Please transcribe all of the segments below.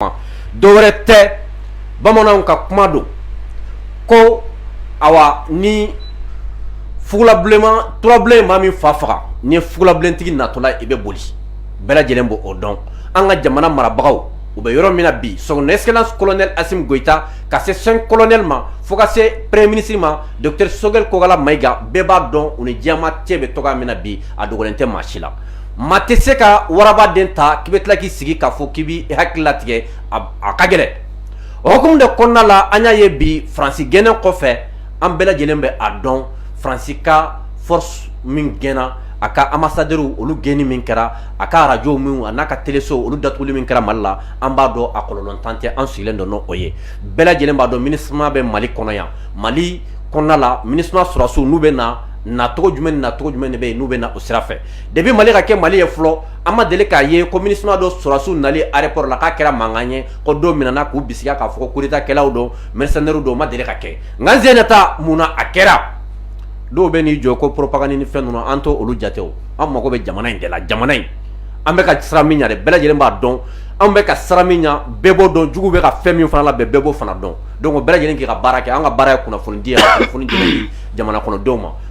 kuma dɔwɛrɛ tɛ bamananw ka kuma don ko awa ni fugulabilenma turabilen maa min fa faga n'i ye fugulabilentigi natɔla i bɛ boli bɛɛ lajɛlen b'o dɔn an ka jamana marabagaw u bɛ yɔrɔ min na bi son excellence colonel Assimi Goïta ka se cinq colonel ma fo ka se premier ministre ma docteur Choguel Kokalla Maïga bɛɛ b'a dɔn u ni diɲɛmaa cɛ bɛ cogoya min na bi a dogolen tɛ maa si la maa tɛ se ka waraba den ta k'i bɛ tila k'i sigi k'a fɔ k'i b'i hakili latigɛ a ka gɛlɛn o hukumu de kɔnɔna la an y'a ye bi faransi gɛnnen kɔfɛ an bɛɛ lajɛlen bɛ a dɔn faransi ka force min gɛnna a ka ambassadeur olu gɛnni min kɛra a ka arajo minw a n'a ka teleso olu datuguli min kɛra mali la an b'a dɔn a kɔlɔlɔntan tɛ an sigilen don n'o ye bɛɛ lajɛlen b'a dɔn MINUSMA bɛ mali kɔnɔ yan mali kɔnɔna la MINUSMA sɔrɔsiw n'u bɛ na nacogo jumɛn nacogo jumɛn de bɛ yen n'u bɛ na o sira fɛ Depuis mali ka kɛ mali ye fɔlɔ an ma deli k'a ye ko MINUSMA dɔ sɔrɔsiw nali aéroport la k'a kɛra mankan ye ko dɔw minɛna k'u bisigiya k'a fɔ ko coup d'état kɛlaw don mercenaires don o ma deli ka kɛ nka sen in ta mun na a kɛra dɔw bɛ n'i jɔ ko propagande ni fɛn ninnu an t'olu jate an mago bɛ jamana in de la jamana in an bɛ ka sira min ɲɛ bɛɛ lajɛlen b'a dɔn an bɛ ka sira min ɲɛ bɛɛ b'o dɔn jugu bɛ ka fɛn min fana labɛn bɛɛ b'o fana dɔn donc bɛɛ lajɛlen k'i ka baara kɛ an ka baara ye kunnafonidi ye kunnafoni di jamana kɔnɔdenw ma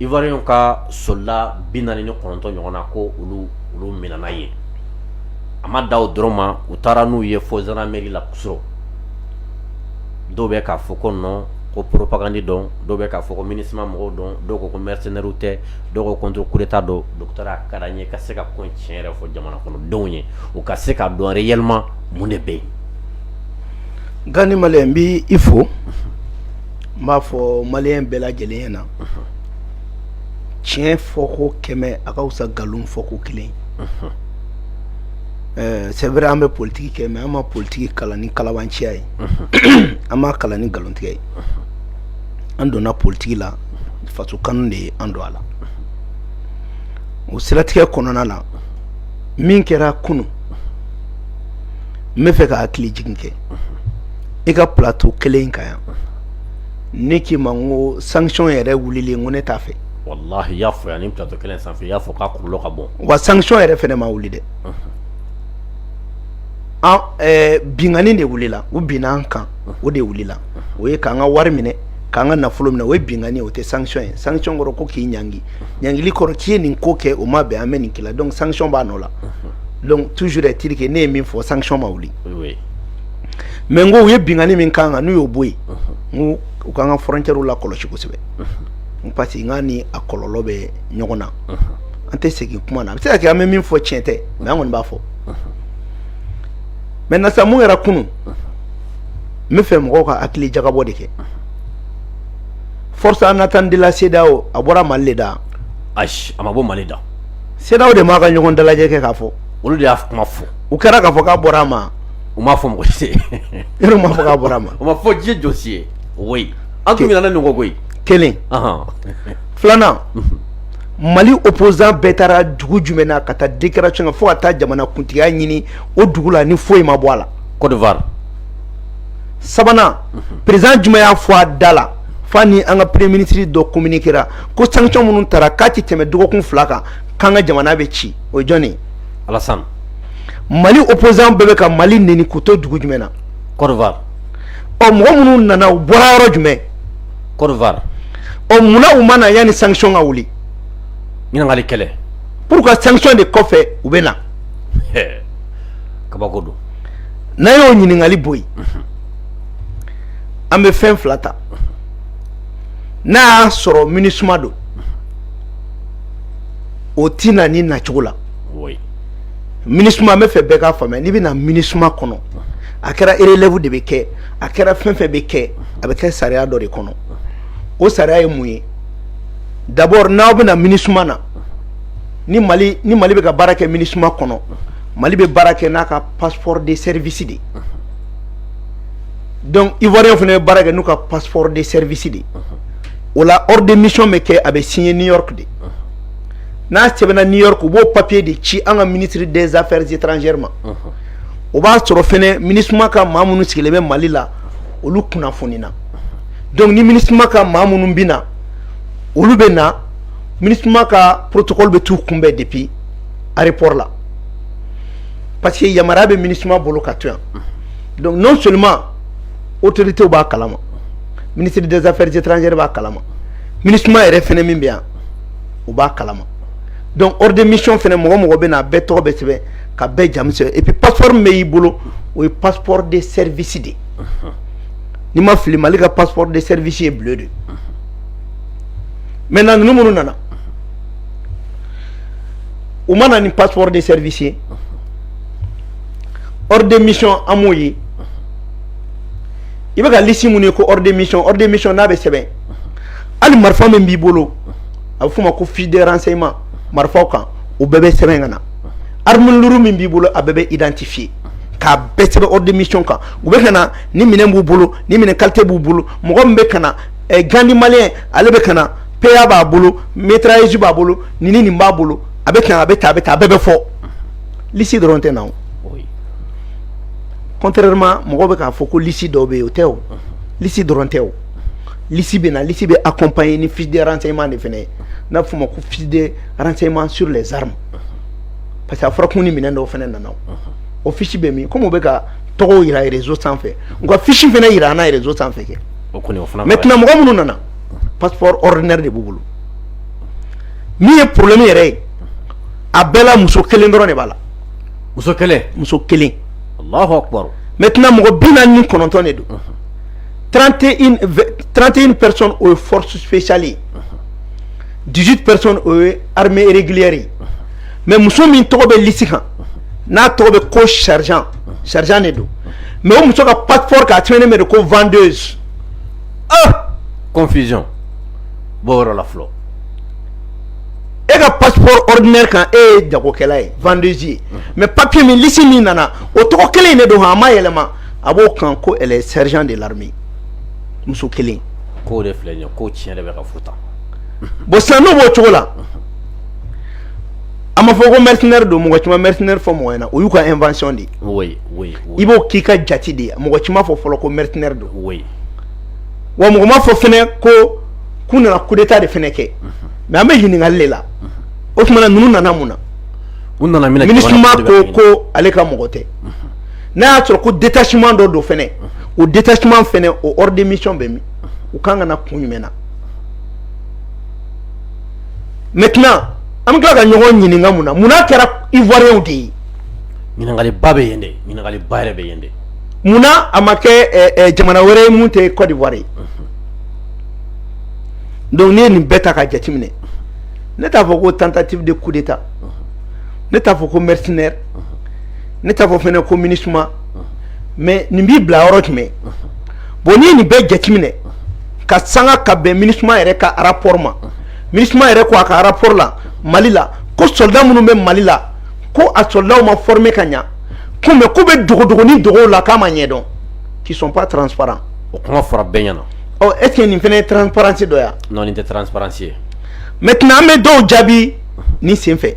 ivoirien ka soldat bi naani ni kɔnɔntɔn ɲɔgɔn na ko olu olu minɛna yen a ma dan o dɔrɔn ma u taara n'u ye fo gendarmerie la kunun surɔ dɔw bɛ k'a fɔ ko non ko propagande don dɔw bɛ k'a fɔ ko MINUSMA mɔgɔw don dɔw ko ko mercenaires tɛ dɔw ko contre coup d'état don docteur a ka d'an ye ka se ka ko tiɲɛ yɛrɛ fɔ jamana kɔnɔdenw ye u ka se k'a dɔn réellement mun de bɛ yen nka ni ma n b'i fo n b'a fɔ malien bɛɛ lajɛlen ɲɛna tiɲɛ fɔko kɛmɛ a ka fisa nkalon fɔko kelen c'est vrai an bɛ politigi kɛ mais an ma politigi kalan ni kalabanciya ye an m'a kalan ni nkalontigɛ ye an donna politigi la faso kanu de ye an don a la o siratigɛ kɔnɔna na min kɛra kunun n bɛ fɛ ka hakili jigin kɛ i ka plateau kelen in kan yan ne k'i ma ko sanction yɛrɛ wulilen ko ne t'a fɛ y'a fɔ yan nin plateau kelen sanfɛ y'a fɔ k'a kɔlɔlɔ ka bon wa sanction yɛrɛ fana ma wuli dɛ binkanni de wulila u binna an kan o de wulila o ye k'an ka wari minɛ k'an ka nafolo minɛ o ye binkanni o tɛ sanction ye sanction kɔrɔ ko k'i ɲangi ɲangili kɔrɔ k'i ye nin ko kɛ o ma bɛn an bɛ nin k'i la donc sanction b'a nɔ la donc toujours est-il que ne ye min fɔ sanction ma wuli mais n ko u ye binkanni min k'an kan n'u y'o bɔ yen n ko u ka kan ka frontièrew lakɔlɔsi kosɛbɛ parce que n'a ni a kɔlɔlɔ bɛ ɲɔgɔn na an tɛ segin kuma na a bɛ se ka kɛ an bɛ min fɔ tiɲɛ tɛ mais an kɔni b'a fɔ maintenant sa mun yɛrɛ kunun n bɛ fɛ mɔgɔw ka hakili jagabɔ de kɛ force en attente de la cedeao a bɔra mali da a ma bɔ mali da cedeao de b'a ka ɲɔgɔn dalajɛ kɛ k'a fɔ olu de y'a kuma fɔ u kɛra k'a fɔ k'a bɔra a ma u m'a fɔ mɔgɔ si yɛrɛ m'a fɔ k'a bɔra a ma o ma fɔ ji jɔsi ye o an tun nana nɔgɔ koyi kelen filanan mali opposant bɛɛ taara dugu jumɛn na ka taa déclaration kɛ fo ka taa jamana kuntigiya ɲini o dugu la ni foyi ma bɔ a la côte d'ivoire sabanan président jumɛn y'a fɔ a da la fa ni an ka premier ministre dɔ communiquera ko sanction minnu tara k'a tɛ tɛmɛ dɔgɔkun fila kan k'an ka jamana bɛ ci o jɔnni alassane mali opposant bɛɛ bɛ ka mali neni k'u to dugu jumɛn na côte d'ivoire ɔ mɔgɔ minnu nana u bɔra yɔrɔ jumɛn côte d'ivoire ɔ munna u ma na yanni sanction ka wuli ɲininkali kelen pourquoi sanction de kɔfɛ u bɛ na kabako don n'an y'o ɲininkali bɔ yen an bɛ fɛn fila ta n'a y'a sɔrɔ minusma don o tɛ na nin nacogo la minusma n bɛ fɛ bɛɛ k'a faamuya n'i bɛ na minusma kɔnɔ a kɛra relève de bɛ kɛ a kɛra fɛn fɛn bɛ kɛ a bɛ kɛ sariya dɔ de kɔnɔ o sariya ye mun ye d'abord n'aw bɛ na minusma na ni mali bɛ ka baara kɛ minusma kɔnɔ mali bɛ baara kɛ n'a ka passeport de service de donc ivoirien fana bɛ baara kɛ n'u ka passeport de service de o la ordre de mission bɛ kɛ a bɛ signer new york de. n'a sɛbɛnna new york u b'o papier de ci an ka ministre des affaires étrangères ma o b'a sɔrɔ fɛnɛ minusma ka maa minnu sigilen bɛ mali la olu kunnafonina donc ni minusma ka maa minnu bɛ na olu bɛ na minusma ka protocole bɛ t'u kunbɛn depuis aéroport la parce que yamaruya bɛ minusma bolo ka to yan donc non seulement autoritéw b'a kalama ministre des affaires étrangères b'a kalama minusma yɛrɛ fɛnɛ min bɛ yan o b'a kalama donc ordre de mission fɛnɛ mɔgɔ o mɔgɔ bɛ na a bɛɛ tɔgɔ bɛ sɛbɛn ka bɛɛ jamu sɛbɛn et puis passeport min bɛ y'i bolo o ye passeport de service de ni n ma fili Mali ka passeport de service ye bleu de maintenant ninnu minnu nana u ma na ni passeport de service ye ordre de mission an m'o ye i bɛ ka liste minnu ye ko ordre de mission ordre de mission n'a bɛ sɛbɛn. hali marifa min b'i bolo a bɛ f'o ma ko fiche de renseignement marifaw kan o bɛɛ bɛ sɛbɛn ka na arme lourde min b'i bolo a bɛɛ bɛ identifier k'a bɛɛ sɛbɛn ordre de mission kan u bɛ ka na ni minɛn b'u bolo ni minɛn qualité b'u bolo mɔgɔ min bɛ ka na Gandhi Malien ale bɛ ka na PA b'a bolo mitrailleuse b'a bolo ni ni nin b'a bolo a bɛ a bɛ tan a bɛ tan a bɛɛ bɛ fɔ lisi dɔrɔn tɛ na contrairement mɔgɔ bɛ k'a fɔ ko lisi dɔ bɛ yen o tɛ o lisi dɔrɔn tɛ o lisi bɛ na lisi bɛ accompagner ni fiche de renseignement de fɛnɛ ye n'a bɛ f'o ma ko fiche de renseignement sur les armes parce que a fɔra ko ni minɛn dɔw fɛnɛ nana o fiche bɛ min komi u bɛ ka tɔgɔw yira réseau sanfɛ u ka fiche fɛnɛ yira an na réseau sanfɛ kɛ maintenant mɔgɔ minnu nana passeport ordinaire de b'u bolo min ye problème yɛrɛ ye a bɛɛ la muso kelen dɔrɔn de b'a la muso kelen muso kelen Alahu akibaru maintenant mɔgɔ bi naani ni kɔnɔntɔn de don. trente une trente une personnes o ye force spéciale ye dix huit personnes o ye armée régulière ye mais muso min tɔgɔ bɛ lisi kan n'a tɔgɔ bɛ ko sergent sergent de don mais o muso ka passeport kan a sɛbɛnnen bɛ de ko vendeuse ah confusion b'o yɔrɔ la fɔlɔ e ka passeport ordinaire kan e ye jagokɛla ye vendeuse ye mais papier min lisi min nana o tɔgɔ kelen in de don han a ma yɛlɛma a b'o kan ko elle est sergent de l'armée muso kelen ko de filɛ nin ye ko tiɲɛ de bɛ ka fɔ tan bon sisan n'o b'o cogo la a ma fɔ ko mercenaire don mɔgɔ si ma mercenaire fɔ mɔgɔ ɲɛna o y'u ka invention de ye oui oui oui i b'o k'i ka jate de ye mɔgɔ si ma fɔ fɔlɔ ko mercenaire don oui wa mɔgɔ ma fɔ fɛnɛ ko k'u nana coup d'état de fɛnɛ kɛ mais an bɛ ɲininkali de la o tuma na ninnu nana mun na u nana mun na MINUSMA ko ko ale ka mɔgɔ tɛ n'a y'a sɔrɔ ko détachement dɔ don fɛnɛ o détachement fɛnɛ o ordre de mission bɛ min u kan ka na kun jumɛn na maintenant an bɛ tila ka ɲɔgɔn ɲininka mun na mun n'a kɛra ivoiriens de ye ɲininkaliba bɛ yen dɛ ɲininkaliba yɛrɛ bɛ yen dɛ mun na a ma kɛ eh, eh, jamana wɛrɛ ye mun tɛ Côte d'Ivoire ye donc n'i ye nin bɛɛ ta ka jateminɛ ne t'a fɔ ko tentative de coup d'état ne t'a fɔ ko mercenaire ne t'a fɔ fɛnɛ ko MINUSMA mais nin b'i bila yɔrɔ jumɛn bon n'i ye nin bɛɛ jateminɛ ka sanga ka bɛn MINUSMA yɛrɛ ka rapport ma MINUSMA yɛrɛ ko a ka rapport la Mali la ko soldat minnu bɛ Mali la ko a soldatw ma former ka ɲa ko mais ko bɛ dogodogoni dogow la k'a ma ɲɛdɔn qui sont pas transparents o kuma fɔra bɛɛ ɲɛna ɔ est ce que nin fɛnɛ ye transparence dɔ ya non nin tɛ transparence ye maintenant an bɛ dɔw jaabi ni sen fɛ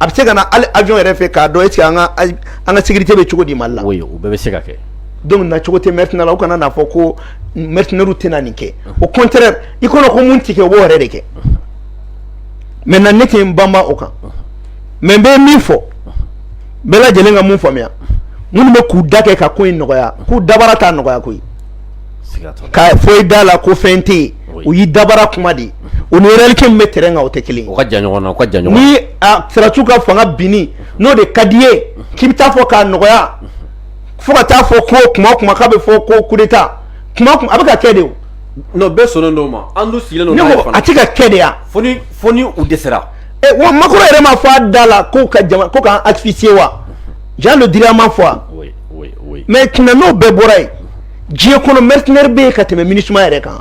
a bɛ se ka na ali avion yɛrɛ fɛ k'a dɔn est ce que an ka an ka sécurité bɛ cogo di Mali la, oui o bɛɛ bɛ se ka kɛ, donc nacogo tɛ mercenaires la u kana n'a fɔ ko mercenaires tɛna nin kɛ au contraire i kɔnɔ ko mun tɛ kɛ o b'o yɛrɛ de kɛ maintenant ne tɛ n banba o kan mais n bɛ min fɔ bɛɛ lajɛlen ka mun faamuya minnu bɛ k'u da kɛ ka ko in nɔgɔya k'u dabara t'a nɔgɔya koyi fɔ i da la ko fɛn tɛ o y'i dabara kuma de ye o ni réalité min bɛ terrain kan o tɛ kelen ni sɔrɔdasiw ka fanga binni n'o de ka di i ye k'i bɛ taa fɔ k'a nɔgɔya fo ka taa fɔ ko kuma o kuma k'a bɛ fɔ ko coup d'état a bɛ ka kɛ de bɛɛ so dɔw ma a tɛ ka kɛ de yan u de sera wa Macron yɛrɛ m'a fɔ a da la ko ka ko k'an asphyxier wa Jean Le Drian m'a fɔ wa mais tiɲɛ n'o bɛɛ bɔra yen diɲɛ kɔnɔ mercenaire bɛ yen ka tɛmɛ MINUSMA yɛrɛ kan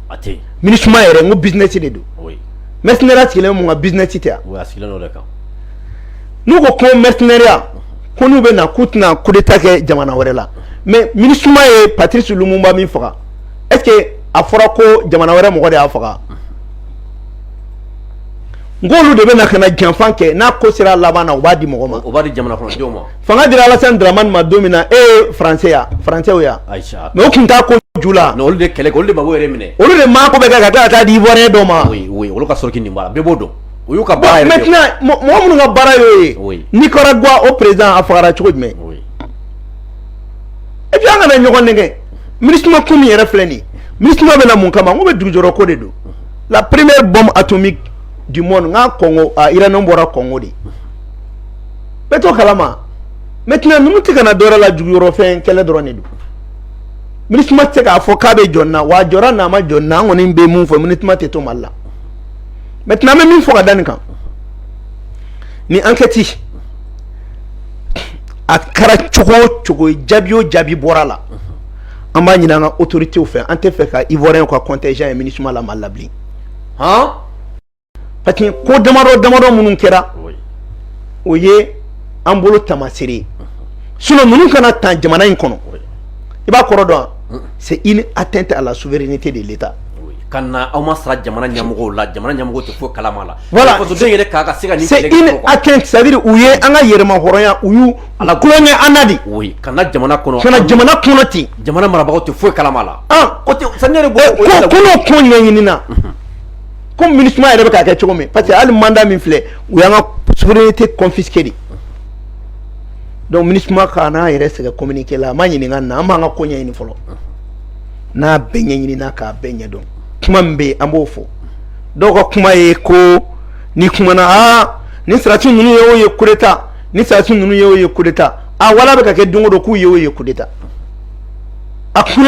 a tɛ yen MINUSMA yɛrɛ n ko business de don oui mercenaire sigilen mun kan business tɛ yan oui a sigilen don o de kan n'u ko ko mercenaireya ko n'u bɛ na k'u tɛna coup d'état kɛ jamana wɛrɛ la mais MINUSMA ye Patrice Lumumba min faga est ce que a fɔra ko jamana wɛrɛ mɔgɔ de y'a faga n k'olu de bɛ na ka na janfan kɛ n'a ko sera laban na u b'a di mɔgɔ ma o b'a di jamana kɔnɔdenw ma fanga dira Alassane Dramane ma don min na e ye français ya français o ya mais o tun t'a ko ju la olu de kɛlɛ kɛ olu de Gbagbo yɛrɛ minɛ olu de maa ko bɛɛ kɛ ka tila ka taa di ivoirien dɔ ma oui oui olu ka sɔrɔ k'i nin b'a la bɛɛ b'o dɔn o y'u ka baara yɛrɛ maintenant mɔgɔ minnu ka baara y'o ye Nicaragua o président a fagara cogo jumɛn et puis an kana ɲɔgɔn nɛgɛn MINUSMA ko min yɛrɛ filɛ nin ye MINUSMA bɛ na mun kama n k'o bɛɛ dugujukɔrɔ ko de don la première bombe atomique du monde n k'a Congo a uranium bɔra Congo de bɛɛ t'o kalama maintenant ninnu tɛ ka na dɔwɛrɛ la dugujukɔrɔfɛn kɛlɛ dɔrɔn de don MINUSMA tɛ se k'a fɔ k'a bɛ jɔn na wa a jɔra n'a ma jɔn na an kɔni bɛ mun fɔ MINUSMA tɛ to Mali la maintenant an bɛ min fɔ ka da nin kan ni enquête a kɛra cogo o cogo jaabi o jaabi bɔra la an b'a ɲini an ka autorités fɛ an t'a fɛ ka ivoirien ka contingent ye MINUSMA la Mali la bilen han parce que ko damadɔ damadɔ minnu kɛra o ye an bolo taamasere ye sinon ninnu ka na tan jamana in kɔnɔ i b'a kɔrɔ dɔn wa c'est une atteinte à la souveraineté de l'État ka na u ma sara jamana ɲɛmɔgɔw la jamana ɲɛmɔgɔw tɛ foyi kalama la voilà fasoden yɛrɛ k'a ka se ka nin c'est une atteinte c'est à dire u ye an ka yɛrɛmahɔrɔnya u y'u ala kulonkɛ an na de oui ka na jamana kɔnɔ ka na jamana kɔnɔ ten jamana marabagaw tɛ foyi kalama la an ko tɛ sani yɛrɛ bɔ ko ko n'o ko ɲɛɲini na ko MINUSMA yɛrɛ bɛ k'a kɛ cogo min parce que hali mandat min filɛ u y'an ka souveraineté confisquer de donc MINUSMA kan'a yɛrɛ sɛgɛn communiqué la a ma ɲininka na an b'an ka ko ɲɛɲini fɔlɔ n'a bɛɛ ɲɛɲinina k'a bɛɛ ɲɛdɔn kuma min bɛ yen an b'o fɔ dɔw ka kuma ye ko ni kumana aa ni sarati ninnu ye o ye coup d'état ni sarati ninnu ye o ye coup d'état a wala bɛ ka kɛ don o don k'u ye o ye coup d'état a coup